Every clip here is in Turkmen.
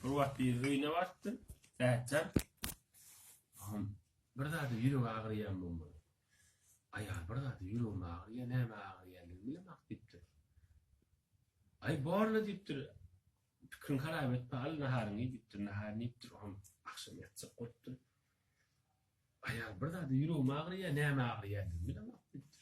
Bir wagt bir öýüne barypdyr. Ätjan. Hom. Bir zady ýüregi agyrýan bolmaly. Aýal bir zady ýüregim agyrýar, näme agyrýandygyny bilemak diýipdir. Aý borla diýipdir. Pikriň harap etme, al naharyňy diýipdir. Naharyny iýipdir, hom agşam ýatjak bolupdyr. Aýal bir zady ýüregim agyrýar, näme agyrýandygyny bilemak diýipdir.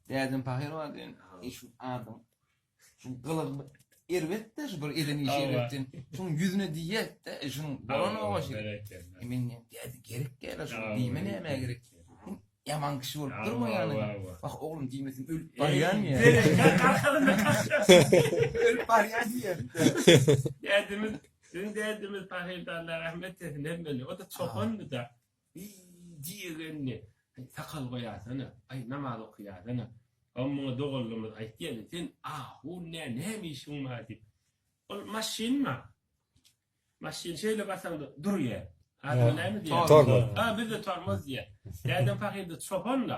Dädem pahyr bar diýen şu adam. Şu gylygy erbetde şu bir eden işi erbetden. Şuň ýüzüne diýýätde, e, şuň bolan owaşy. E, men däde gerek gelä şu diýme näme gerek. Ýaman kişi bolup durma ýaly. Wah oglum diýmesin ölüp barýan ýa. Ölüp barýan ýa. Dädemiz, sizin dädemiz pahyrdanlar rahmet etsin hemmeli. O da çopandy da. Eý, diýegenli, aý, sakal goýasana, aý, namaz okaýasana. Hany, muňa dogallymyz aýtýaly, sen ahun nä, näme işiň bar diýip. Ol maşynma. Maşyn şeýle basaňda durýa. Adyna näme diýýäler? Tormoz. A, bizde tormoz diýýä. Dädem pahyr-da, çopan-da.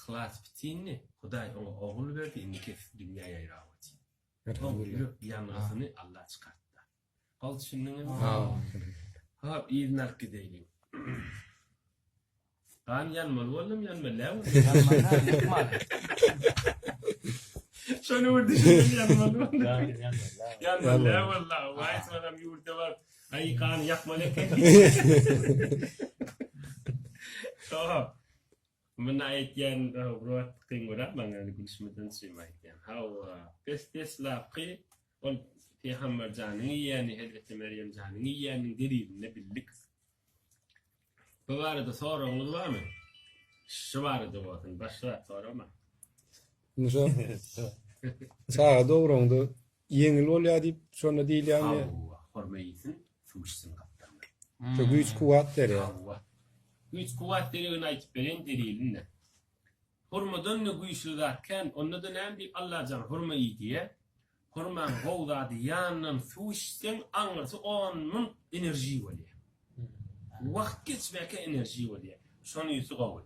Yhlas bitindi, Hudaý oňa ogul berdi, indi kesik dünýä ýaýrap otyr. Hop, ýürek ýangysyny Allah çykartda. Hol düşündiňizmi? Hop, yzyny alyp gideýliň. Gan ýanmaly boldum, ýanma lä boldy. Ýanman-a, ýykmaly. Şony bir düşündim, ýanmaly boldum. Gan ýanmaly lä boldy. Ýanmaly lä boldy, aga. Waý, sonam ýurda baryp, Aý, gany ýakmaly eken. Hop. Munda aýtýan Rowrot kyn görýär maňa ýöne gülüşmeden şeýme aýtýan. Hawa, pes deslapky ol Pygamber janyň iýýäni Hezreti Merýem janyň iýýäniniň delilini bildik. Bu barada soragyňyz barmy? Şu barada bolsun, başga zat soramaň. Indi şo çaga dogranynda Ýeňil bolýar diýip şonda diýilýärmi? Hawwa, horma iýsin, suw içsin gapdalynda. Şu güýç kuwwat berýär. Hawwa. Güýç kuwwat deregini aýtyp bereýin delilini. Hurmadan-da güýçli zat kän. Onda-da näme diýip Allajan hurma iý diýýär? Hurmaň gowy zady ýanyndan suw içseň aňyrsy on müň enerji bolýar. Wagt geçmäkä enerji bolýar. Şonysy gowy.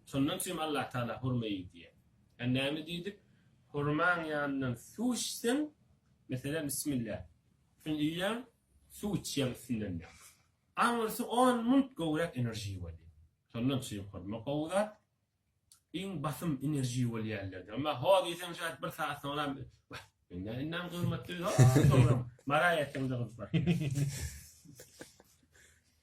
Şondan üçinem Allatagala hurma iý diýýär. Sen näme diýdik, hurmaň ýanyndan suw içseň, meselem, bismillah, şuny iýýäň, suw içýäň üstünden diýýäň. Aňyrsy on munt gowrak enerji bolýar. Şondan üçin hurma gowy zat. Iň basym enerji bolýanlardan. Emma ho diýseň şärt bir sagat soňram wah, indi indem gymmatly, ho soňram maraý etseň-de gyzyklatýar.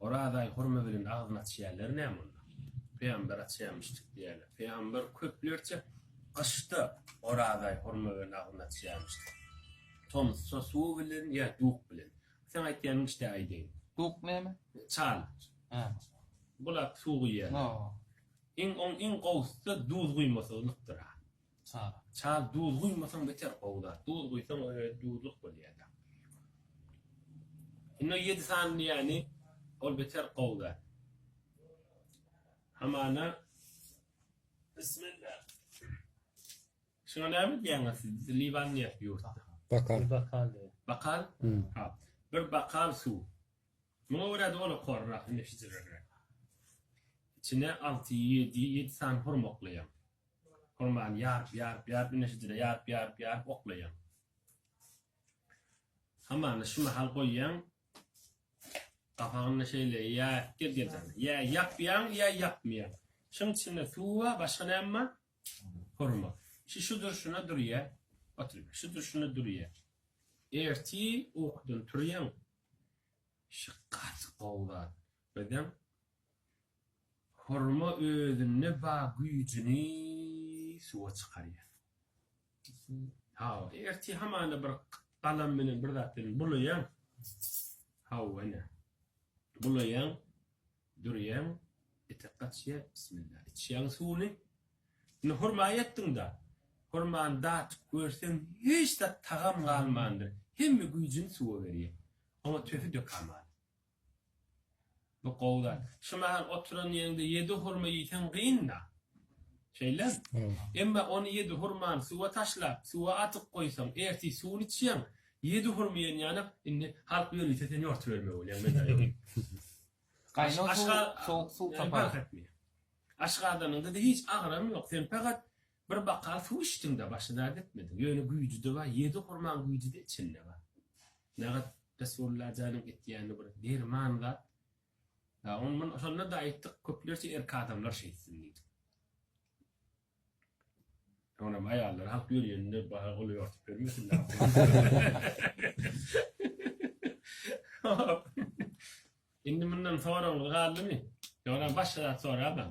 Orazaý hurma bilen agzyny açýarlar näme onda? Pygamber açýamyşdyk diýýärler. Pygamber köplerçe gyşda Orazaý hurma bilen agzyny açýamyşdyk. Tomsda suw bilen ýa duk bilen. Seň aýtýanyň işte aýdaýyn. Duk näme? Çal. Hä. Bulak suw guýýarlar. Iň oň iň gowusy duz guýmasyzlykdyr-a. Çal. Çal duz guýmasaň beter gowular. Duz guýsaň öýe duzluk bolýada. Indi o ýedi sany diýýäni ol beter gowy zat. Hamana Bismillah. Şuňa näme diýýäňiz siz? Liwan diýýär ýurtda. Bakal. Bakal diýýär. Bakal? Ha. Bir bakal suw. Muňa görä doly korrak, indi şijirerek. Içine alty, ýedi, ýedi sany hurmaklyam. Hurmany ýaryp, ýaryp, ýaryp, ine şejere ýaryp, ýaryp, ýaryp oklaýaň. Hamany şu mahal goýýaň. Gapagyny şeýle ýaýyp gel gelden. Ýa ýapýaň, ýa ýapmaýaň. Şuň içinde suw bar, başga näme bar? Hurma. Şu şu durşuna durýa. Otur. Şu durşuna durýa. Erti ukudan turýaň. Şu gaty gowy zat. Özem Hurma özünde bar güýjüni suwa çykarýar. Hawa, ertir hamana bir galam bilen bir zat bilen bulaýaň. Hawa, ene. Bulaýaň, dürýäň, etek gaçýar, bismilla, içýäň suwuny. Indi hurma etdiň-de, hurmany datyp görseň, hiç zat tagam galmandyr, hemme güýjüni suwa berýär. Oňa töhi dökäman. Bu gowy zat. Şu mahal oturan ýeriňde ýedi hurma iýseň gyn-da. Şeýlemi? Emma ony ýedi hurmany suwa taşlap, suwa atyp goýsaň, ertir suwuny içýäň, ýedi hurma iýen ýanak, indi halk ýörite seni ýortubermeli bolýar, menda ýok. Gaýnag suw, sowuk suw tapar. Aşgazanyň dyzy hiç agyram ýok, sen pagat Bir baka suw içdiňda başyda gitmediň ýöne güýjüde bar ýedi hurmaň güýjüde içinde bar nagat Resulullah janyň etýäni bir derman zat ýa on mun şonda da aýtdyk köplerçe erki adamlar şeýtsin diýdik Onam aýallar halk ýörýäninde baha goly ýortup bermesinler. Indi mundan soraňyz galdymy? Ýöne başga zat soraýman.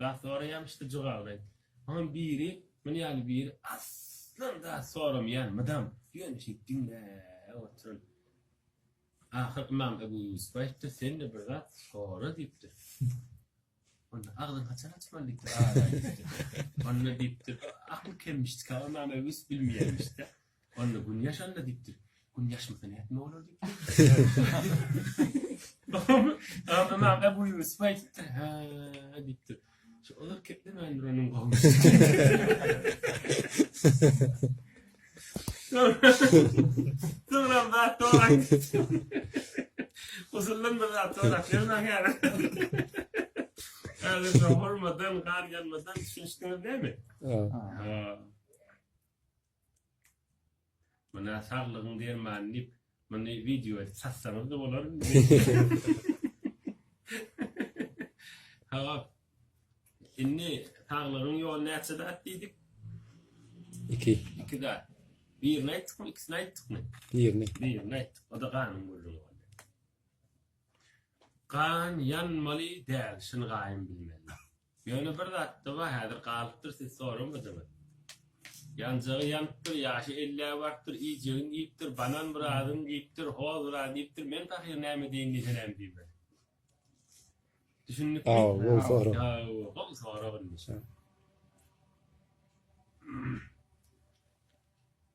Zat soraýan ştjygagdaý. Soňam biri men ýaly biri aslan zat soramaýan mydam ýöne şeýdip diňläp otyryn. Ahyr Ymam Ebu Ýusup aýtdy sende bir zat sora diýipdir. Onda agzyny haçan açmaly diýipdir. Onda diýipdir akyl kemmişdika Ymam Ebu Ýusup bilmeýänmişde. Onda gün ýaşanda diýipdir. Gün ýaşmasa nätme bolar diýipdir. Ymam Ebu Ýusup aýdypdyr, Hä diýipdir. Şu olar keplemändir onuň gowumy. Soňra zat dogry aýdypdyr. Uzundan bir zat dogry aýdypdyr. Häzir hormadan, gar ýanmadan düşünişdiňiz näme? Ha. Muna saglygyň dermany diýip muny wideo edip satsaňyzda bolar Hop. Indi saglygyň ýoly näçe zat diýdik? Iki. Iki zat. Birini aýtdykmy, ikisini aýtdykmy? Birini. Birini aýtdyk. O da ganyň gürrüňi boldy. Gan ýanmaly däl, şyny gaýym bilmeli. Ýöne bir zatda bar häzir galypdyr siz soramadyňyz. Ýanjagy ýanypdyr, ýaşy ellä barypdyr, iýjegin iýipdir, banan biradyny diýipdir, hoz biraz diýipdir, men pahyr näme diýin diýse näme diýmeli. Düşündikmi? Sag bol, gowy sorag. Sag bol, gowy sorag indi.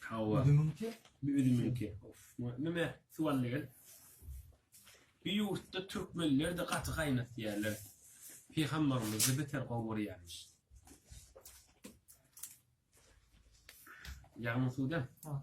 Hawa. Üzümiňki? Üzümiňki. Of, näme suwal degel. Bir ýurtda türkmenler-de gaty gaýnatýarlar. Pygamberimizi beter gowy görýärmiş. Ýagny suwda? Ha.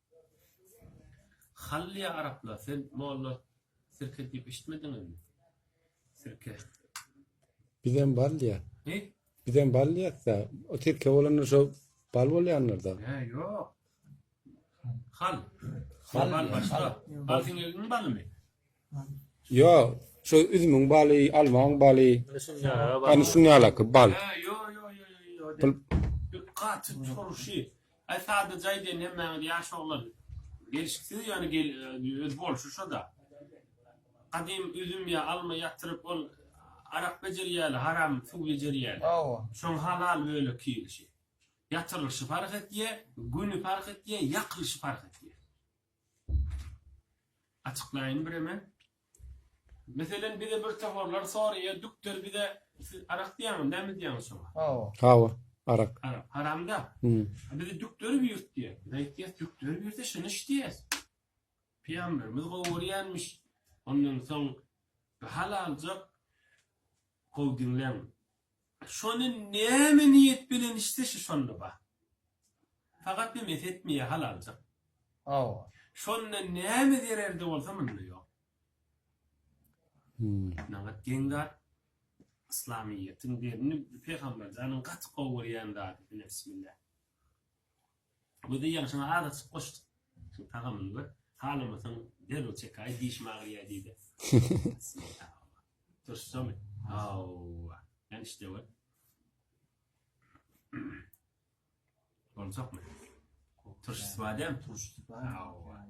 Hallyýa araplar sen molla sirke diýip eşitmediňizmi? Sirke. Bizem bal diýýär. He? Bizem bal diýýäs-dä. O sirke bolanda şo bal bolýandyr-da. He, ýok. Hal. Hal, bal başga. Bal siňegiň balymy? Ýok, şu üzümiň baly, almaň baly. Hany şunýalaky bal. Gaty turşy. Aý sadaja aýdaýyn hemmäňiz ýaş oglan. Gelşiksiz ýöne öz bolşy şo-da. Gadym üzüm ýa alma ýatyryp ol arak bejerýärler, haram suw bejerýärler. Hawa. Şoň halal bölek iýilişi. Ýatyrylyşy parh etýär, güni parh etýär, ýakylyşy parh etýär. Açyklaýyn bireme. Meselen bize bir toparlar soraýar, dükter bize siz arak diýýäňiz, näme diýýäňiz şoňa? Hawa. Hawa, arak. Arak, haramda. Hmm. Bize dükter buyurt diýýär. Biz aýtýas, dükter buyursa şuny iç diýýäs. Pyýamberimiz gowy görýänmiş. Ondan soň bir hal aljak. Gowy diňläň. Şony näme niýet bilen içse şu şonda bar. Fakat bir mes etmeýä hal aljak. Hawa. Şonda näme zererde bolsa munda ýok. Nagat geň zat. Yslamyýetiň derini Pygamberjanyň gaty gowy görýän zady. Bismillah. Güzi ýagyşyna azajyk goşduk. Şu tagamyny gör. Halamasaň derrew çekaý dişim agyrýa diýdi. Turşumy? Hawa. Sen işte gör. Boljakmy? Turşusy bar däm? Turşusy bar. Hawa.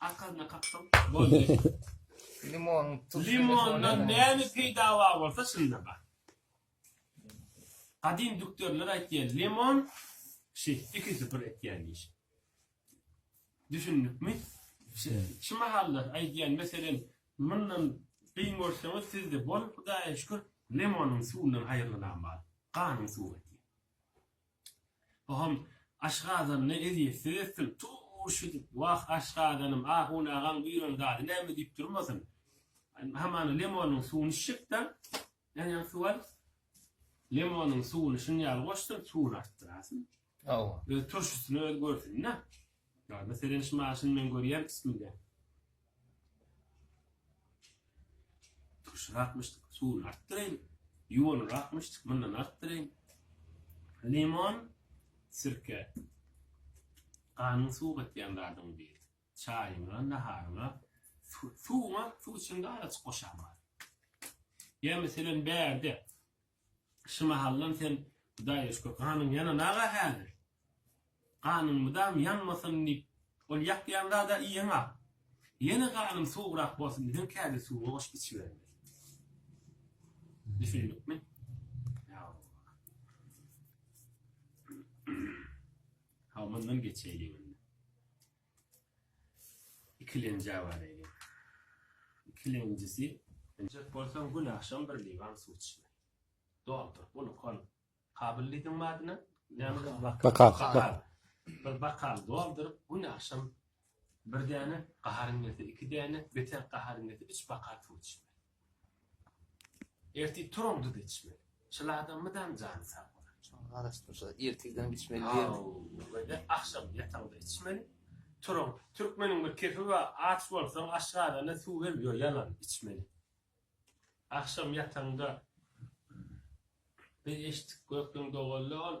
Arkasyna kakdyň. Boldy. Limon, tuz. Limondan näme peýda bar bolsa şunda bar. Gadym dükderler aýtýar, limon şi iki süpür etýän iş. Düşündikmi? Şu mahalla aýdýan meselen mundan gyn görseňiz sizde bol Hudaýa şükür limonyň suwundan haýyrlanam bar. Ganyň suwy. Pahym, aşgazanyny ezýetsiz etsin, tu-u-u-u-ş edip, wah, aşgazanym, ahun agaň buýran zady näme diýip durmasyn. Hamana lemonyň suwuny içjek-dä, ýanýan suw al. Lemonyň suwuny şuny ýaly goşsyn, suwuny artdyrasyn. Hawa. Öz turşusyny özi görsün-dä. Ýa, meselem, şuny maşyn men görýän üstümde. Turşurakmyşdyk, suwuny artdyraýyn. Ýuwanurakmyşdyk, mundan artdyraýyn. Limon, sirke. Ganyň suw gatýan zadyň biri. Çaýyňa, naharyňa, suwuňa, suw içiňde araçyk goşaýmaly. Ýa meselem bärde Şu mahallam sen Hudaý öçke ganyň ýanana-ga häzir. Ganyň mydam ýanmasyn diýip, ol ýakýan zad-a iýeň-ak. Ýene ganyň sowugrak bolsun diýseň, kädi suwa goşup içibermeli. Düşündikmi? Hawa, mundan geçeýliň indi. Ikilenjä baraýly. Ikilenjisi. Injek bolsaň gün agşam bir liwan suw içme. Doldur, bunu kol. Kabyl diýdiň badyna? Bakal. Bakal. Bir bakal dolduryp, gün agşam bir däne, gaharyň gelse iki däne, beter gaharyň gelse üç bakal suw içme. Ertir turuň duz içmeli. Çyl adam mydam jany sag bolar. Şuňa garaşyp durşa ertirden içmeli diýermi. Hawa agşam ýataňda içmeli. Turuň türkmeniň bir kepi bar aç bolsaň aşgazana suw hem ýo ýalan içmeli. Agşam ýataňda biz eşitdik gökleň doganlar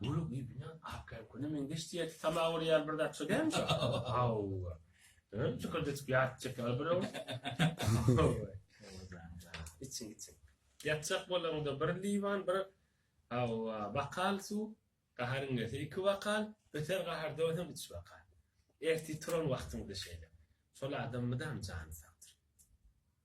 Göle girdiňä akýan köne meňzeş diýerdi. Tama görýär bir zat şo dälmi şo? Hawa. Öň çykyrdyjyk ýatyp çeker bir öň. Içiň içiň. Ýatjak bolaňda bir liwan bir hawa bakal suw gaharyň gelse iki bakal öter gahar döwsem üç bakal. Ertir turan wagtyňda şeýle. Şol adam mydam jany sagdyr.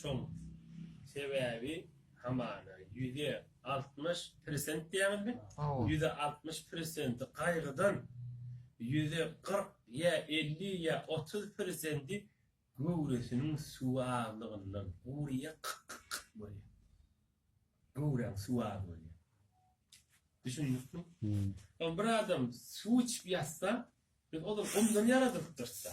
Şol sebäbi hamana ýüze altmyş persent diýýäňizmi? Hawa. Ýüze altmyş persenti gaýgydan, ýüze kyrk ýa elli ýa otuz persendi göwresiniň suwy azlygyndan gurýar, kyk-kyk-kyk bolýar. Göwräň suwy az bolýar. Düşündikmi? Ol bir adam suw içip ýatsa, biz ozal gumdan ýaradypdyrys-da.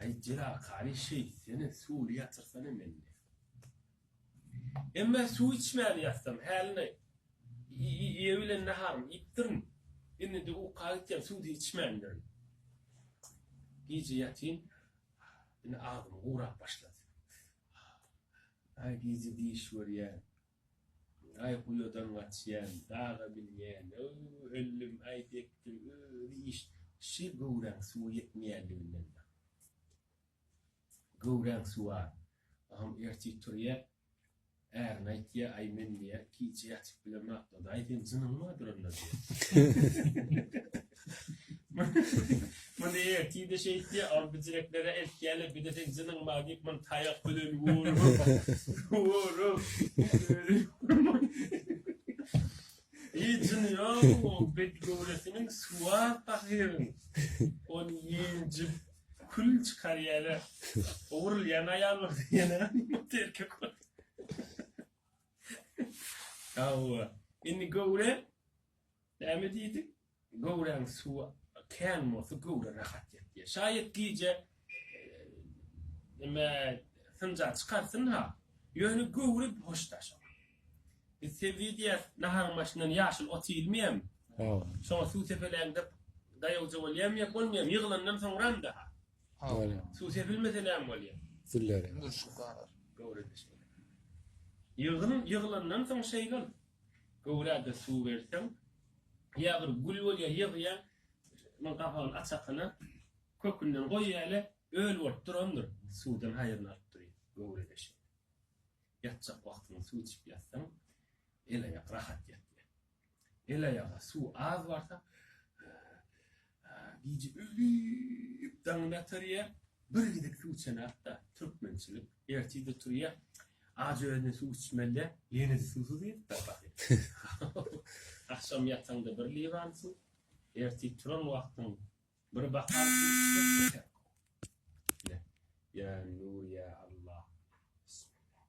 Aý jelakary şeýtsene suwly ýatyrsana mende. Emmä suw içmän ýatsam häline ýe bilen naharymy iýipdirin. Indide uka gitýän suw-da içmändirin. Gije ýatyn indi agzym gurap başlady. Aý gije diş görýän Aý guýadan gaçýan daga minýän ööw öllüm aý bekdir özi iş şi göwräň suwy ýetmeýänliginden bar göwräň suw a agam ertir turýa ärine aýtýa aý men diýä gije ýatyp bilemok dadaý sen jynyňmy adyranlar diýä. Muny ertide şeýtdi, Alby direklere eltýärler, bir-de sen jynyňma diýip, muny taýak bilen urup, urup, özi urman. Hiç jyny ýok, o bedgöwresiniň suwa pahyryň. Ony ýenjip, kül çykarýarlar. O urulýan aýal bolsa ýene erkek bol. Hawa, indi göwre. Näme diýdik, göwräň suwy kän bolsa, göwre rahat ýatýar. Şaýat gije näme synja çykarsyn-ha, ýöne göwre hoş daş ol. Biz sebze diýýäs, naharyň başyndan ýaşyl ot iýilmeýärmi? Şoňa suw sepeläňde daýawja bolýarmy ýa bolmaýarmy? Ýygylandan soňram-da-ha. Suw sepilmese näme bolýar? Züllerem. Göwre daş bolar. Ýygylandan soň şeýle ol. Göwräde suw berseň, ýa bir gül bolýar, ýygýa, munuň gabagyny açakyna kökünden goýýaly, öl bolup durandyr, suwdan haýryny alyp durýar. Göwräde şeýle. Ýatjak wagtyňda suw içip ýatsaň, el-aýak rahat ýatýar. El-aýaga suw az barsa, Gije ölüp daňyny atarýa, bir gezek suw içenakda, türkmençilik, ertide turýa, ajy özüne suw içmelýä, ýene-de suwsuz ýatyp barýa. Agşam ýataňda bir liwan suw, ertir turan wagtyň bir bakal suw içmek beter. Ýa Nur ýa Allah. Bismillah.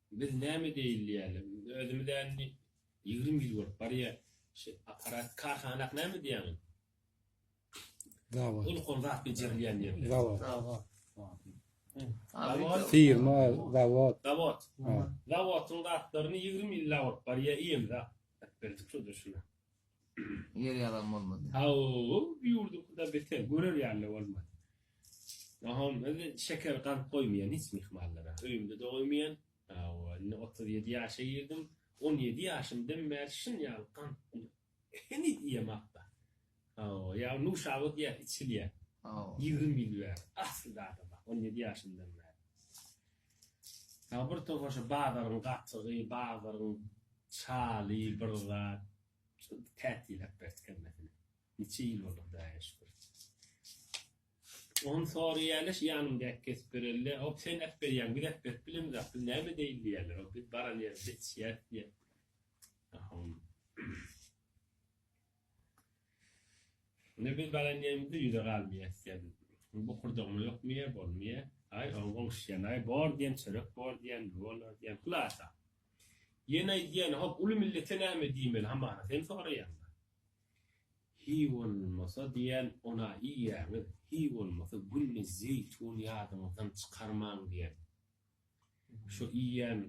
Biz näme diýeli diýýärler. Biz özümiz indi ýigrimi ýyl bolup barýa şu aparat karhana näme diýýäňiz? Zawod. Ulkan zat bejerilýän ýerler. Zawod. Zawod. Zawod. Firma zawod. Zawod. Zawodyň zatlaryny ýigrimi ýyl bolup barýa iýemza. Berdik şuda şuna. Ýer ýalan bolmady. Haw, bu ýurduňkydan beter, görer ýaly-da bolmady. Ynha, indi şeker galyp goýmaýan hiç myhmanlara. Öýümde-de goýmaýan. Hawa, indi otuz ýedi ýaşa girdim. On ýedi ýaşymdan bäri şyn ýaly gant heniz iýemok-da. Hawa, ýa nuşaba diýýär, içilýär. Hawa. Ýigrimi ýyl bäri, asylda adama, on ýedi ýaşymdan bäri. Ýa bir topar şu bazaryň gatygy, bazaryň çaly bir zat. Şol tätiläp berdik hemmesini. Niçe ýyl boldy Hudaýa şükür. Ony soraýaly şu ýanymdaky Kesipgerelle, Hop sen äp berýäň, biz äp berip bilemizok, biz näme edeýin diýýärler. Hop biz baran ýerimize içýäris diýýär. Ahun. Indi biz baran ýerimizde ýüze galmaýar sen bokurdagma ýokmaýar bolmaýar aý oň goňşýan aý bor diýen çörek bor diýen bolar diýen hylasa ýene aýdýan hop uly millete näme diýmeli hamana sen soraýaňda hi bolmasa diýen ona iýýäňiz hi bolmasa günde zeýtun ýadyňyzdan çykarmaň diýen. Şu iýen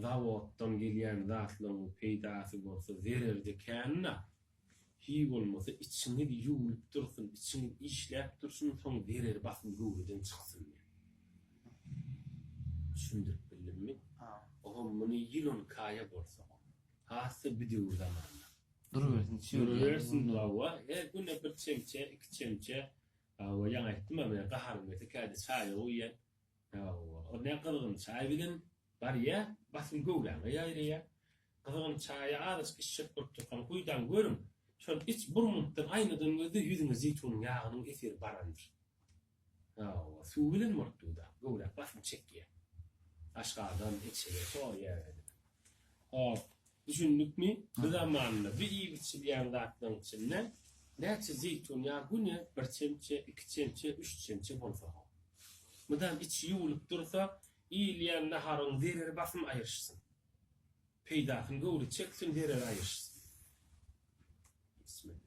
zawoddan gelýän zatlaryň peýdasy bolsa zererde kän-dä. Hiý bolmasa içiňiz ýuwlup dursun, içiňiz işläp dursun, soň zereri basym göwreden çyksyn diýen. Düşündirip bildimmi? Ogam muny ýylan kaýa bolsa, has-da bidöwür zamanda. Durubersin çöl ýaly. Durubersin hawa, her güne bir çemçe, iki çemçe, hawa ýaňa aýtdym-a men gaharym gelse käte çaýa guýýan. Hawa, ol ne gyzgyn çaý bilen barýa, basym göwräňe ýaýraýa. Gyzgyn çaýa azajyk içjek bolup durkaň, guýdan görüň, şony iç, bir munutdan aýnadan gözle, ýüzüňe zeýtunyň ýagynyň eseri barandyr. Hawa, suw bilen bolup dur-da, göwräk basym çekýä. Aşgazan, içege, soýýa. Hop, Düşündikmi? Bu zamanda bir iýip-içilýän zatlaryň içinde näçe zeýtun ýagy güne bir çemçe, iki çemçe, üç çemçe bolsa-ha. Mydam içi ýuwlup dursa, iýilýän naharyň zereri basym aýryşsyn. Peýdasyny göwre çeksin, zereri aýryşsyn. Bismillah.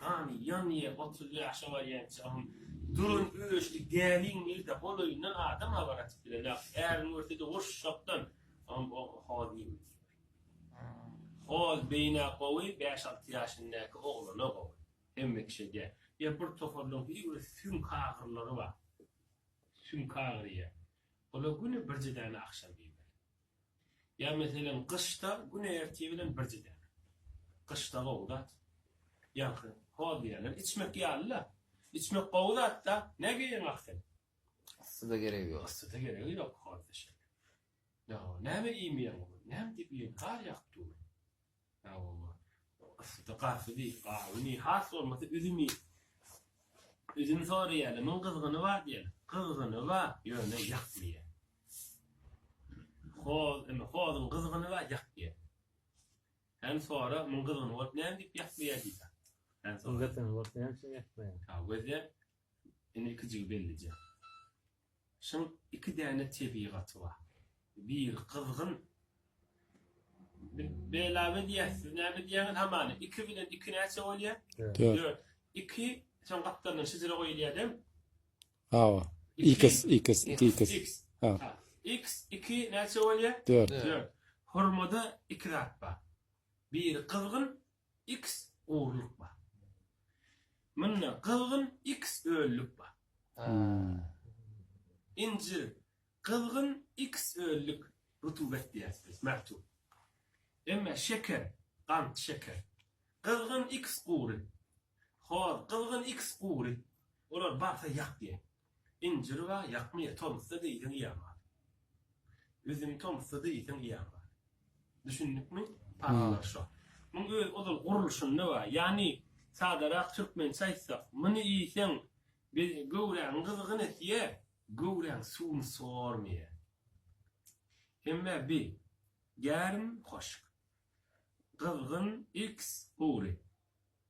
Gany, ýanýa otuz ýaşa barýançagam duran öçli gäliň ilde golaýyndan adam habar atyp bilenok. Äriň görse-de urşakdan soň o hol diýmek islemek. Hol beýnä gowy, bäş-alty ýaşyndäki oglana gowy. Hemme kişä däl. Ýa bir toparlaryň hili bir süňk agyrylary bar. Süňk agyrýar. Ola güni birje däne agşam iýmeli. Ýa meselem gyşda gün ertir bilen birje däl. Gyşda gowy zat. Ýaňky hol diýýänler içmek ýaly-la. Içmek gowy zat-da. Nä geýeň ah sen? Yssyda geregi ýok. Yssyda geregi ýok, hol deşik. Ýa näme iýmeýäň? Näme diýip iýeýin? Gar ýagyp dur. Sagbolma. Ysydy garsy diýip gaby ni has bolmasa üzümi üzüm soraýaly muň gyzgyny bar diýen. Gyzgyny bar ýöne ýak diýen. Hoz indi hozuň gyzgyny bar ýak diýen. Sen sora muň gyzgyny bolup näme diýip ýak diýer diýse. Sen sora. Gyzgyny bolup näme üçin ýak diýer. Sagbolýa. Indi ikijigi bellije. Şyň iki däne tebigaty bar. Biri gyzgyn. Belaw edýär. Siz näme edýäňiz hamana? Iki bilen iki näçe bolýar? Dört. Iki şoň gapdalyndan şijire goýulýar-da. Hawa. X, X, X. Hawa. X iki näçe bolýar? Dört. Hurmada iki zat bar. Biri gyzgyn, X ogrulyk bar. Munda gyzgyn X ölülik bar. Nji gyzgyn X ölülik rutubet diýeris biz mertub. Emme şeker gant şeker. Gyzgyn X gury. Hoz gyzgyn X gury. Olar barsa ýak diýen. Injir ba ýakmyýa tomsda diýseň iýen bar. Üzüm tomsda diýseň iýen bar. Düşündikmi? Parallar şo. Muň öz ozal gurluşynda bar. Ýagny sadarak türkmençe aýtsak, muny iýseň be göwräňi gyzgyn etýä, göwräň suwuny sormaýa. Hemmä bi gärim hoşk. Gyzgyn, iks, gury.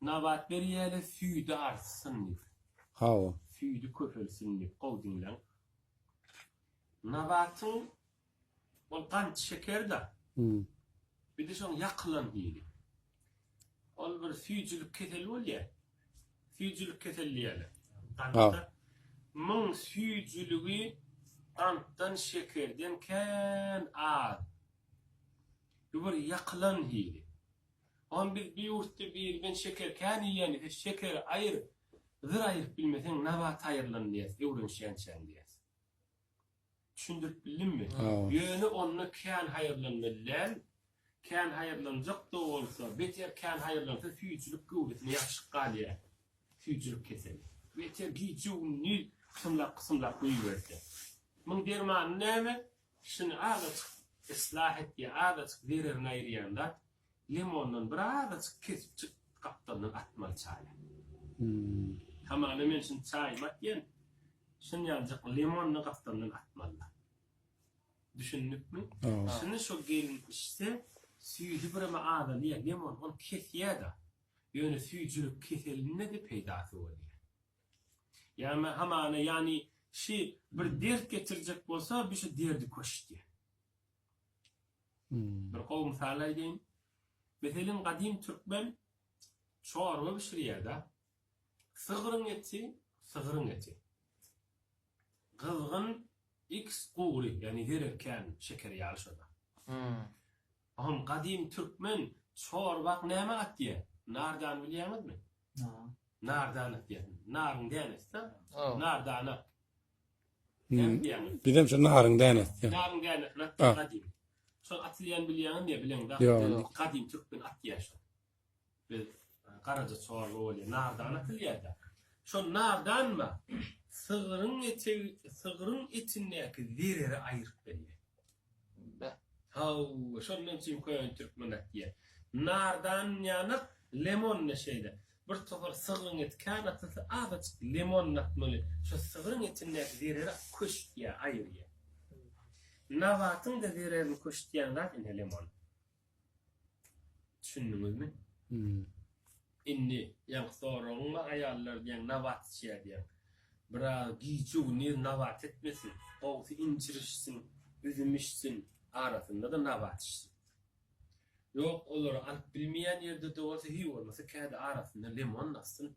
Nabat berýäle süýdi artsyn diýip. Hawa. Süýdi köpelsin diýip. Gowy diňläň. Nabatyň ol gant şeker-dä. Bide şoň ýakylan hili. Ol bir süýjülik keseli bolýa. Süýjülik keseli diýäler. Gantda myň süýjüligi gantdan şekerden kän az. Bu bir ýakylan hili. Hany biz bir ýurtda biri men şeker kän iýýän sen şekeri aýyr zyr aýyryp bilmeseň nabat aýyrylyn diýýäs öwrenişýänçäň diýýäs. Düşündirip bildimmi? Ýöne onda kän haýyrlanmaly däl, kän haýyrlanjakda bolsa beter kän haýyrlansa süýjülik göwresine ýapyşyp galýar süýjülik keseli. Beter gije gündiz kysymlap kysymlap guýuberse. Muň dermany näme? Şuny azajyk yslah et ýa azajyk zererini aýyrýan zat limondan bir azajyk kesipjik gapdaldan atmaly çaýa. Hamana men şuny çaýyma atýan şunýaljyk limony gapdaldan atmaly. Düşündikmi? Şuny şo gelin içse süýji bireme azalýa limon ony kesýäda. Ýöne süýjülik keselinde de peýdasy bolýa. Ýa-ma hamana, ýany şi bir dert getirjek bolsa, bi şi derdi köş diýen. Bir gowy mysal aýdaýyn. Meselen, gadym türkmen çorba bişirýär-dä. Sygryň eti, sygryň eti. Gyzgyn X gury yani zerer kän şeker yaly şoda. Hom gadymy türkmen çorbak näme atýa? Nardan bilýäňizmi? Nardan atýa. Naryň dänesi. Nardana. Bizem şu naryň dänesi. Naryň dänesi atýa gadymy. Şol atylýan bilýäňizmi? Bileň. Gadymy türkmen atýa şo. Biz garaja çorba bolýar, nardan atylýar-da. Şol nardanma sygryň etegi, sygryň etindäki zereri aýryp berýär. Beh, hawa, şondan üçin köne türkmen atýar. Nardan ýana lemon-da şeýle. Bir topar sygryň eti kän atylsa, azajyk lemon atmaly. Şo sygryň etindäki zereri köştýär, aýyrýar. Nabatyň-da zererini köştýän zat ine lemon. Düşündiňizmi? Hmm. Indi ýaňky soragyňda aýallar diýen nabat içýär diýýär. Biraz gije güniz nabat etmesin, gowsy injir içsin, üzüm içsin, arasynda-da nabat içsin. Ýok, olary alyp bilmeýän ýerde-de bolsa, hiý bolmasa kädi arasynda limon dassyn.